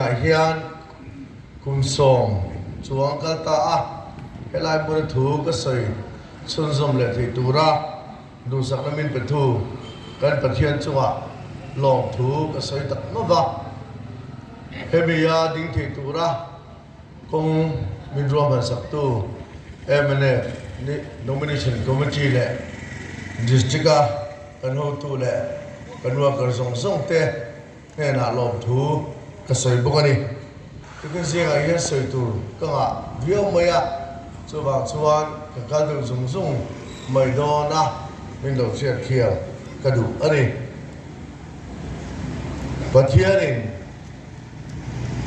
Tunah hian kum sawm chuang a kal ta a, helai hmuna thu ka sawi chhunzawm leh theih tura duhsakna min pe thu kan Pathian chungah lawm thu ka sawi tak ngawt a. Hemi a ding theih tura kawng min ruah hmansaktu MNA, Nomination Committee leh District-a kan hotu leh kan worker zawng zawng te, hnenah lawm thu ka sawi bawk a ni. Tukin zingah hian sawi tur ka ngah viau mai a, chuvang chuan ka kal deuh zung zung mai dawn a, min lo hriat thiam ka duh a ni. Pathianin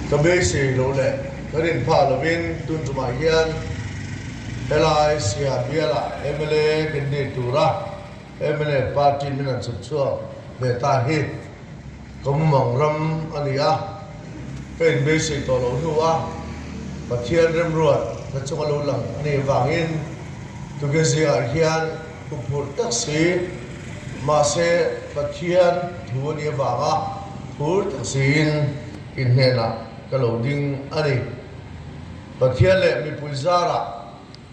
ka beisei loh leh ka rin phah lovin tun tumah hian helai Siam biala mla candidate tura, Mla party min an chhuk chhuak ve ta hi Kawmamang ram a ni a, ka inbei sawi tawh lo hnu a, Pathian remruat hna chung a lo lang a nih avangin Tugezi ah hian pu phurh tak si, mahse Pathian thu a nih avanga phur tak siin i hnenah ka lo ding a ni. Pathian leh mipui zarah.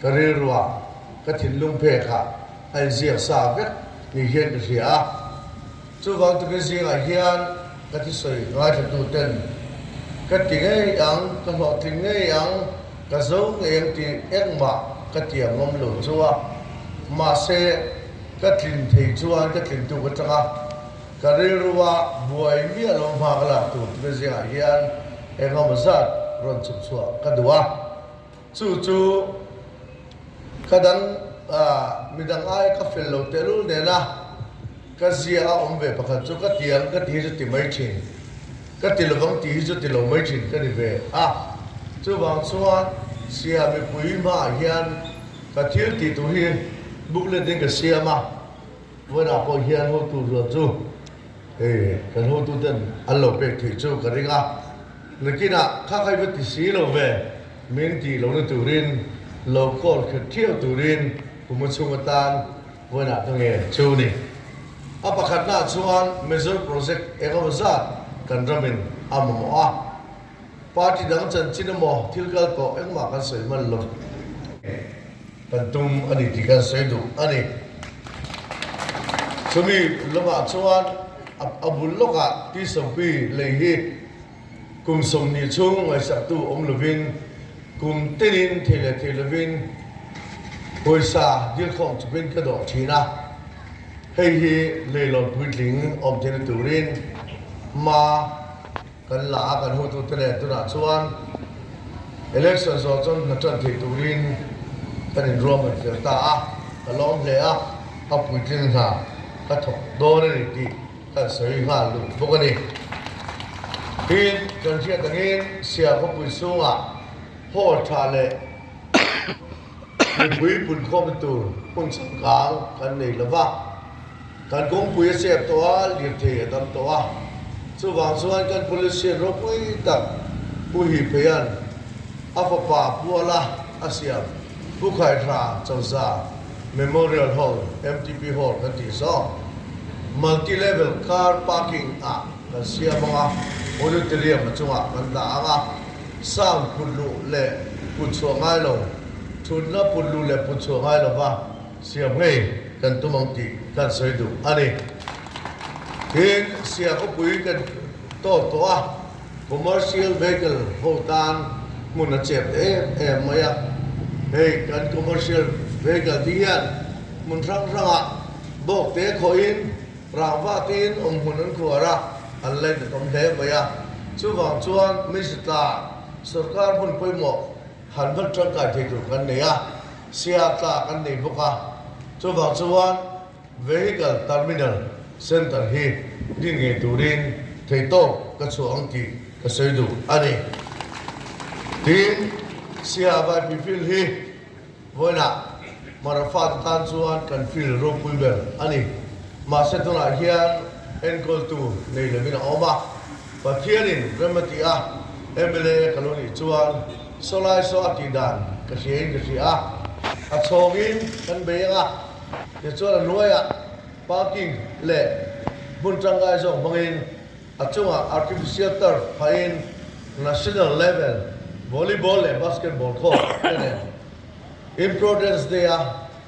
Ka rilrua, ka thinlung phek ah a inziak sa vek ni hian ka hria a. Chuvang takin zingah hian ka tisawi ngaithla-tu ten ka ti ngei ang, ka hlawhtling ngei ang, ka zo ngei ang tih engmah ka ti a ngawm lo chu a. Mahse, ka tlin thei chuan ka tlintu ka chang a. Ka rilrua buai miah lo hma ka lak tur takin zingah hian engngamawzat rawn chhukchhuah ka duh a. Chu chu ka dang a, midang aia ka fel lo tehlul nena ka zia a awm ve pakhat chu ka tiang ka ti hi chu ti mai thin, ka ti lovang ti hi chu ti lo mai thin ka ni ve a. Chuvang chuan Sia mipui hmaah hian ka thil ti tur hi booklet in ka siam a, vawilah pawh hian hotu rual chu hei kan hotu ten an lo pek theih chu ka ring a. Nikinah kha khai va ti si lo ve, min tih lo na turin lo khawl khat thiau turin kum a chhung atan vawiinah ka nge chu ni. A pakhatnaah chuan Mizo Project engemaw zat kan ramin a mamawh a, party dang chanchin emaw thilkal tawh engmah kan sawi hman lo. Kan tum a ni tih kan sawi duh a ni. Chumi lawngah chuan a bul lawkah Tishompi lei hi kum sawmhnih chhung ngaisaktu awm lovin kum tenin thei leh thei lovin pawisa dirkhawm chupin ka dawh thin a. Hei hi leihlawn puitling awm theihna turin hma. Kan la a kan hutu te nen tunah chuan election zawh chuan hna tan thei turin kan in ruah man fel ta a, ka lawm hle a, a puitling hna ka thawk dawn a ni tih kan sawi nghal lut bawk a ni. Tin, kan hriat angin Siah khawpui chhungah haw tha leh mipui pun khawmtu hmun changkang kan nei lo va. Kan kawngpui a chep tawh a, lirthei a tam tawh a. Chuvang chuan kan Policean ropui tak Pu Hi Pheia'n a fapa Puala a siam Pu Khai Hra Chauza Memorial Hall, MTP Hall kan tih zawk, Multi Level Car Parking ah kan siam ang a, Auditorium a chungah kan dah ang a, Sound putluh leh putchhuah ngai lo, Thutna putluh leh putchhuah ngai lova, Siam ngei kan tum ang tih kan sawi duh a ni. Tin, siam upui kan tawt tawh a, commercial vehicle ho tan hmun a chep em em mai a. Hei kan commercial vehicle te hian hmun hrang hrangah bawk te khawhin rangva tiin awm hmun an khuar a, an lain ta tawm hle mai a. Chuvang chuan Minhritla sawrkar hmun pawimawh Han vat tangkai thei tur kan nei a, Siatla kan nei bawk a. Chuvang chuan Vehicle Terminal Centre hi din ngei turin thei tawp ka chhuah ang tih ka sawi duh a ni. Tiin Siah vaipi field hi vawiinah Marafate tan chuan kan field ropui ber a ni. Mahse tunah hian enkawl tur nei lovin a awm a. Pathianin rem a ti a, mla ka lo nih chuan saw lai saw a tih dan ka hriain ka hria. A chhawngin kan bei ang a, tichuan a hnuaiah parking leh hmun tangai zawk hmangin a chungah artificial turf phahin national level volleyball leh basketball court te nen Improdence Day-a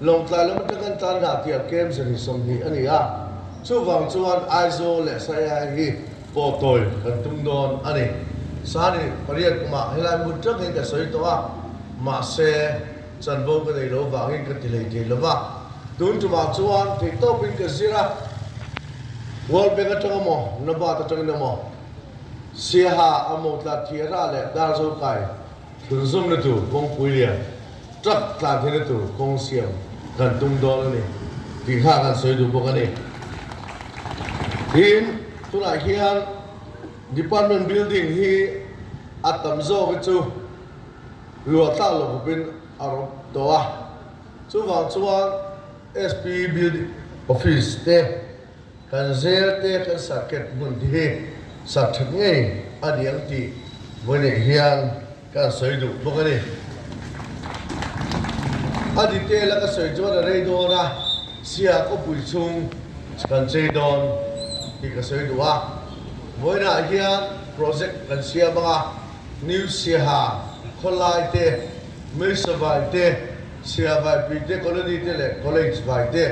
Lawngtlai lam aṭang in tan dah tih a kem zet hi sawmhnih a ni a. Chuvang chuan Aizawl leh Saihai hi pawh tawi kan tum dawn a ni. Sani pariat kumah helai hmun ṭang hi ka sawi tawh a, mahse, chanvo ka nei lo vangin ka ti hlei thei lo va. Tun ṭumah chuan thei tawp in ka zir a, World Bank aṭang a maw, Nabaad aṭangin a maw, Siaha a maw, Tlathiara leh Darzokai, Tun zawm na tur kawngpui lian tlat tlan theih na tur kawng siam kan tum dawn a ni tih kha kan sawi duh bawk a ni. Tin, tunah hian Department Building hi a tam zawk hi chu luah tlak lo khawpin a rawp tawh a. Chuvang chuan SP Building Office te, Kan zel te kan sat ket hmun te hi sat that ngei a ni ang tih vawineih hian ka rawn sawi duh bawk a ni. A ni te la ka sawi chuan a rei dawn a, Sia khawpui chung kan chei dawn tih ka sawi duh a. Vawineah hian project kan siam ang a, New Siaha, Khawlai te, Meisavai te, Sira vaipi te, colony te leh college vai te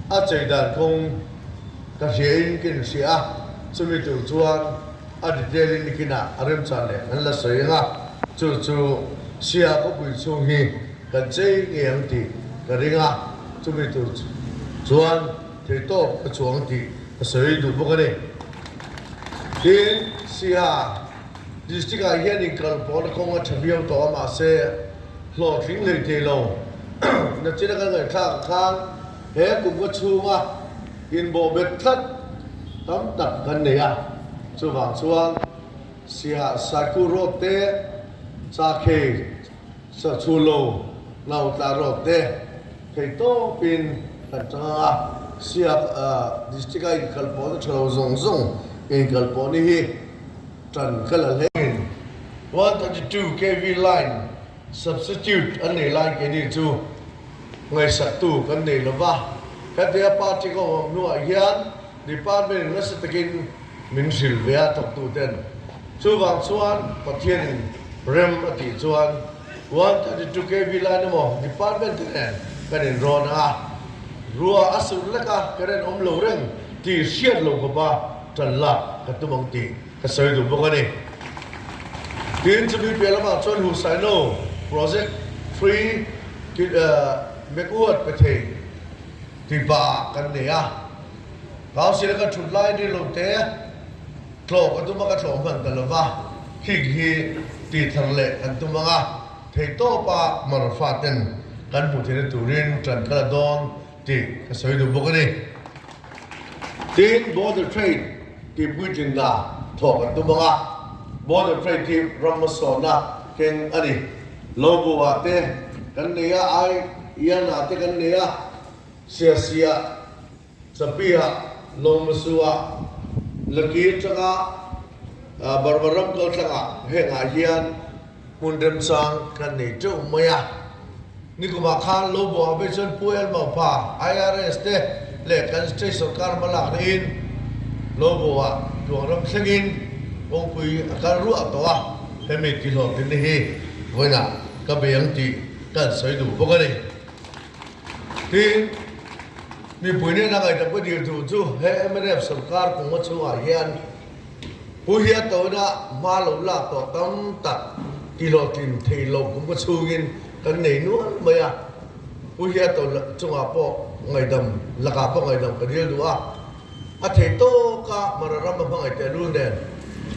a chei dan kawng ka hriain ka inhria a, chumi tur chuan a detail in nikin ah a remchan leh kan la sawi ang a, chu chu Sira khawpui chhung hi kan chei ngei ang tih ka ring a, chumi tur chuan thei tawp ka chuang tih ka sawi duh bawk a ni. Tin, Sira. District-ah hian inkal pawl kawng a tha viau tawh a mah se hlawh tling lei teh lo. Nachin a kan ngaihthlak ang khan he kumkha chhunga inbawh bet tlat tam tak kan nei a, chuvang chuan Siasaku Road te, Chakhei, Sa chhu lo lau tla rawk te thei tawp in kan chang ang a, Siak District a inkal pawh na tha lo zawng zawng inkal pawh ni hi tan ka la hle. Min one thirty two KV line substitute an nei lai ke ni chu ngaihsak tu kan nei lo va, hetia party ka awm hnuah hian Department in nasa takin min hrilh ve a thawktu ten. Chuvang chuan Pathian in rem a tih chuan one thirty two KV line emaw Department te nen kan in rawn ang a, ruah a surh lek a ka ren awm lo reng ti hriat lo bawpa tan lak ka tum ang tih ka sawi duh bawk a ni. Tin chu mi piah lamah chuan Husaino Project three Mekuat Pethei. Pipa kan nei a, kau sila ka thut lai ni lo te, tlawh ka tum a ka tlawh hman ta lova, hik hi tithar leh kan tum anga thei tawpa Marfa ten kan hmu thei na turin tan ka la dawn tih ka sawi duh bawk a ni. Tiin Border Trade tih puitlinna thawh kan tum anga, Border Trade hi ramhmasawrhna keng a ni Logo ah te kan nei a, ai ian ah te kan nei a, siasi ah, chapi ah, lawngmahsu ah, laki atanga, Burma ram kaltlang ah heng ah hian hmun remchang kan nei teuh mai a. Nikum ah khan Logo ah vel chuan Pu Elmau pa, IRS te leh kan State sawrkar hma lak na in Logo ah tluang ram thleng in kawngpui a kal ruah tawh a. Hemi tihlawm thilna hi vawiina ka be ang tih ka han sawi duh bawk a ni. Tin, mipui nena ngaihtuah ka dir duh chu he mrf sawrkar kawngma chhungah hian Pu Hriatawina hma lo lak tawh tam tak tihlawhtlin theih loh kum ka chhungin kan nei nual mai a. Pu Hriataw chungah pawh ngaidam, lakah pawh ngaidam ka dir duh a. A thei tawk a, Mara ram a hmangaih teh lul nen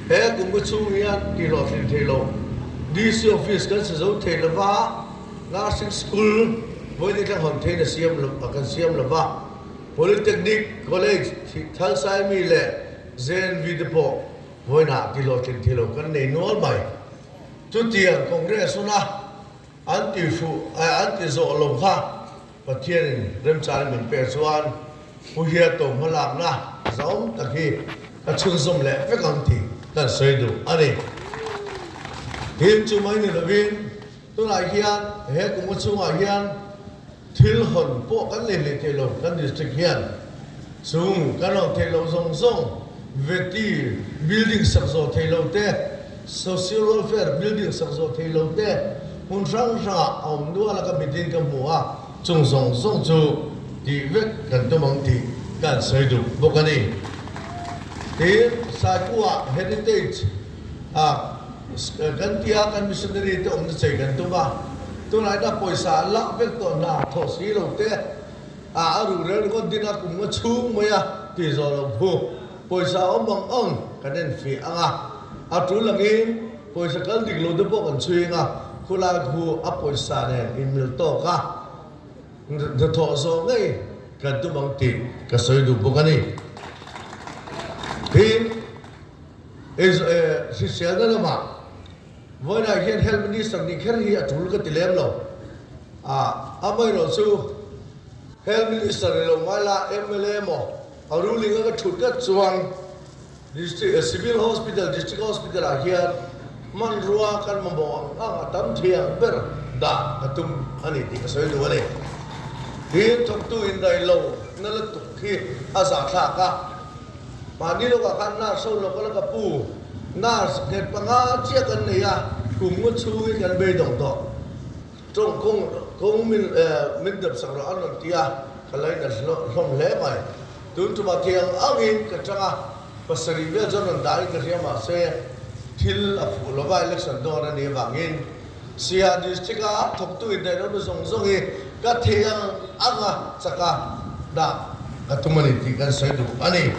he Kumbu chhung hian tihhlawh thlin thei lo DC office kan si zo thei lova, Nursing School Mawini Tlangham thein a siam lo a kan siam lova, Polytechnic College Thalsaimi leh JNV te pawh Mawinah tihhlawh thlin thei lo kan nei nual mai. Chutiang Congress huna an tihfuh an tih zawh lo kha. Pathianin remchang in min pek chuan Pu Hia Taw hmalakna zawng tak hi ka chhunzawm leh vek ang tih kan sawi duh a ni. Tin, chu mai ni lovin tunah hian he kawngka chhungah hian thil hawn pawh kan leh leh theih lo, kan district hian chung kan rawn theih loh zawng zawng, veti building sak zawh theih lote, Social Welfare Building sak zawh thei lo te hmun hrang hrangah a awm nual a ka mitin ka hmu a, chung zawng zawng chu tih vek kan tum ang tih ka an sawi duh bawk a ni. Tiin Saipuaha Heritage ah kan ti a kan Missionary te awmna chei kan tum a, tunahina pawisa an lah vek tawh hna thaw si lo te ah a ruh rel ringawt ding a kum nga chhung mai a ti zawh lo phu. Pawisa a awm ang ang kan en fi ang a, a tul angin pawisa kal dik lo te pawh kan chhuing a, khulai khu a pawisa nen in mil tawk a, hnathawh zawh ngei kan tum ang tih ka sawi duh bawk a ni. Tin, hriselna lamah vawiinah hian Health Minister nih kher hi a tul ka ti lem lo, amaherawhchu Health Minister ni lo hmaila mla maw, A ru ling a ka thut ngat chuan District, Civil Hospital, District Hospital ah hian hmanrua kan mamawh ang ang a tam thiang ber dah ka tum a ni tih ka sawi duh a ni. Thir thawktu in raih lo na lutuk khi a za thlak a. Mahni lawkah khan nurse ho lawk a la ka pu, nurse nghet panga chiah kan nei a, kum ngaw chhungin kan bei dawng tawh. Tawng kawng kawng min min dep sak lo an rawn ti a, ka lain a hlawm hle mai. Tun tumah thei ang ang in ka chang a, pasarih vel chuan rawn dah in ka hria mah se thil a fuh lo va election dawn a nih avangin Siha district a thawktu inneih lotu zawng zawng hi ka thei ang ang a chaka dah ka tum a ni tih kan sawi duh a ni.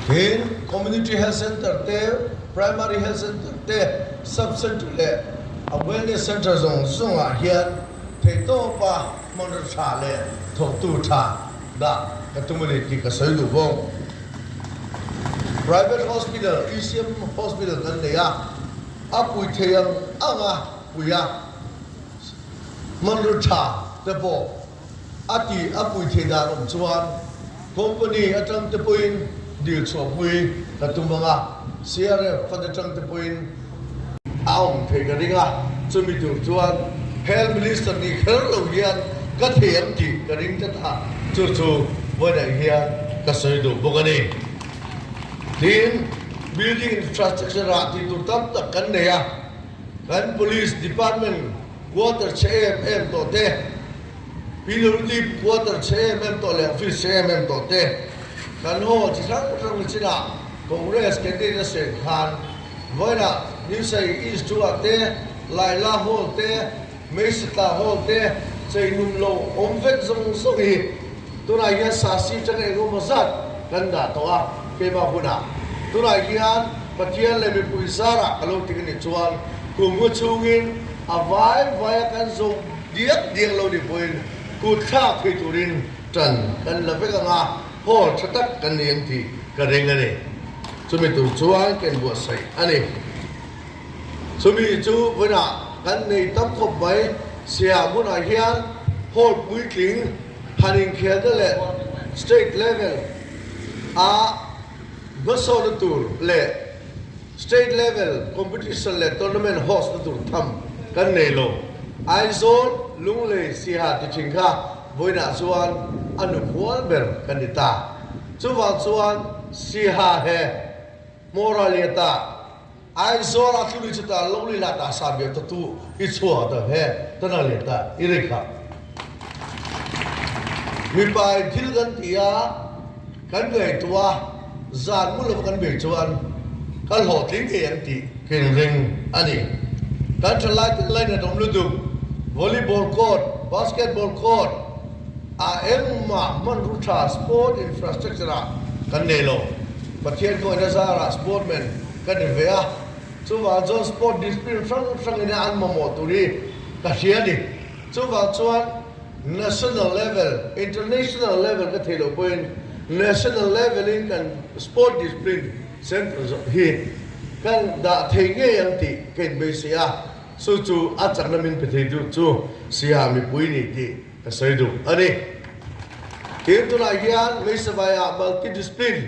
Hêng Community Health Centre te, Primary Health Centre te, Sub Centre leh Wellness Centre zawng zawngah hian theihtawpa hmanraw ṭha leh thawhtu ṭha dah ka tum a ni tih ka sawi duh bawk. Private Hospital, ECM Hospital kan nei a, a pui thei ang anga pui a, hmanraw ṭha te pawh a ti a pui thei dan awm chuan company atangte pawhin dil chhuah pui ka tum ang a, CRF fund atangte pawhin a awm thei ka ring a, chumi tur chuan Health Minister nih kher lo hian ka thei ang tih ka ring ta ta, chu chu vawiinah hian ka sawi duh bawk a ni. Tin, Building Infrastructure-ah tihtur tam tak kan nei a, kan Police Department, Quarter chhe em em tawh te, pillar ip quarter chhe em em tawh leh office chhe em em tawh te kan haw chi hrang hrang le chin ah Congress candidate a seh khan vawiin ah Nirsai East chu ah te, Laila Hall te, Meisatla Hall te chei num lo awm vek zawng zawng hi. Tunah hian sa si chang eng emaw zat kan dah tawh a, keimah hunah tunah hian Pathian leh mipui zarah ka lo ti ka nih chuan kum hmu chungin a vai vaia kan zawh diak diak lo ni pawhin kutthlak thei turin tan kan la vek ang a, hawl tha tak kan ni ang tih ka reng a ni. Chumi tur chuan ka inbuatsaih a ni. Chumi chu vawiinah kan nei tam khawp mai. Siam hunah hian hall puitling han inkhelna leh state level a hmasawrna tur leh state level competition leh tournament host na tur tham kan nei lo. Aizawl, Lunglei, Siha ti thin kha vawiinah chuan a nu hual ber kan ni ta. Chuvang chuan Siha he Hmawraliata, Aizawl a thluanuih chuta Lawngli lah ta sa biak ta tu i chhuah ta he ta na lian ta i rei khah. Mipa i thil kan ti a kan ngei tu a zan hmun lova kan bei chuan ka hlawhtling thei ang tih kin ring a ni. Kan thalai te lain a dawm lutuk, volleyball court, basketball court ah engmah hmanrua tha sport infrastructure ah kan nei lo. Pathian khawiahna zara sportmen, Ka ni ve a, chuvang chuan sport discipline hrang hrang ina an mamawh tur hi ka hria a ni. Chuvang chuan national level, international level ka thei loh pawhin national level in kan sport discipline centre zawrh hi kan dah thei ngei ang tih ka inbei si a, chu chu a chakna min pe thei duh chu Siha mipui ni tih ka sawi duh a ni. Tin tunah hian Hmeisabaiah multi discipline.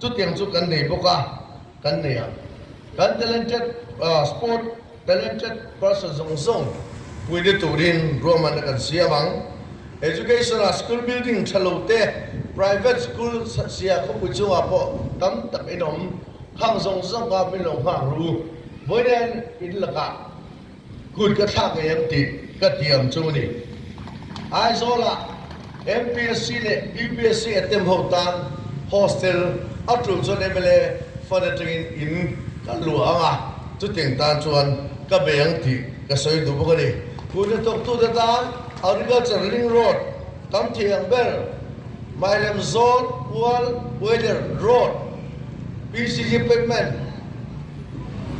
Chutiang chu kan nei bawk a, kan nei ang. Kan talented sport, talented person zawng zawng puite turin ruahmanna kan siam ang. Education ah school building tha lo te, private school sia khawpui chungah pawh tam tak in awm. Khang zawng zawng kha min lo nghak lu. Vawiin in lakah. Kut ka thlak ngei em tih ka ti ang chu ni. Aizawla MPSC leh UPSC attempt ho tan hostel a tul chuan mla fan atangin in ka luah ang a, chutiang tan chuan ka be ang tih ka sawi duh bawk a ni. Kut a tawktu te tan Agriculture ring road, Tam Thih Ang ber, Mairam Zone Ual Uailirh road, PCG payment,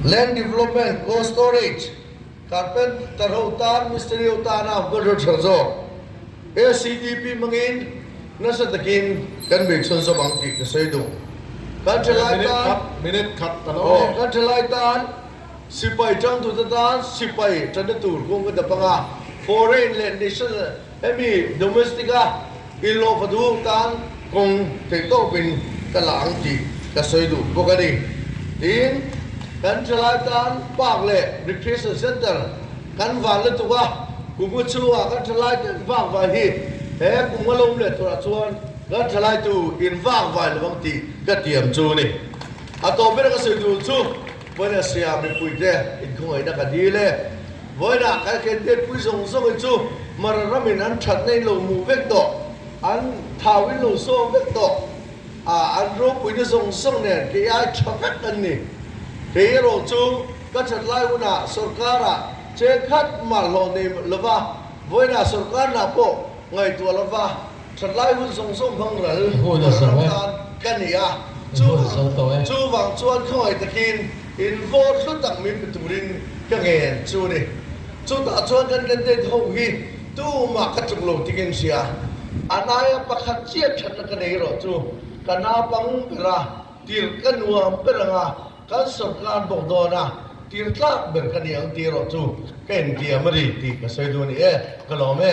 Land Development, Cold Storage, Carpenter ho tan, Mistri ho tan a awmtu an rawn ther zawk. SCDP hmangin nasa takin kan bei chhawn zawk ang tih ka sawi duh. Kan thalai tan, kan thalai tan sipai tangtu te tan sipai tana tur kawng ka dap ang a, Foreign leh National Hemi domestic a inlawh fa duh tan kawng theih tawpin ka la ang tih ka sawi duh bawk a ni. Tiin kan tha lai tan park leh recreation centre kan van lutuk a, kunga chhungah kan tha lai takin vakvai hi he kunga lawm leh thurah chuan kan tha laitu in vakvai lovang tih ka tiam chu a ni. A tawh ber a ka sawi duh chu. Vawiinah Siam mipui te inkhawngainak a dil e. Vawiinah kalkhen te pui zawng zawng hi chu Mara ram in an thatna in lo mu vek tawh, an thau in lo sawm vek tawh, ah an ropui na zawng zawng nen kei ai tha vek an ni. Kei erawh chu ka that lai hun ah sorkar ah cheng khat mal hlawh nei lova, vawiinah sorkar nah pawh ngaihtuah lova. Chawtlai hun zawng zawng hmang ral lam ram tan ka ni a, chu vang chuan khawngei takin invawl hlu tak min pe turin ka ngen chu ni. Chutah chuan kan candidate ho hi tumah ka tluk lo tingin hria, a naia pakhat chiah thatna ka nei erawh chu ka naupang ber a, Tir ka nuam ber anga kan sorkar bawk dawn a, tir tlak ber ka ni ang ti erawh chu ka intiam a ri tih ka sawi duh a ni e, ka lawm e.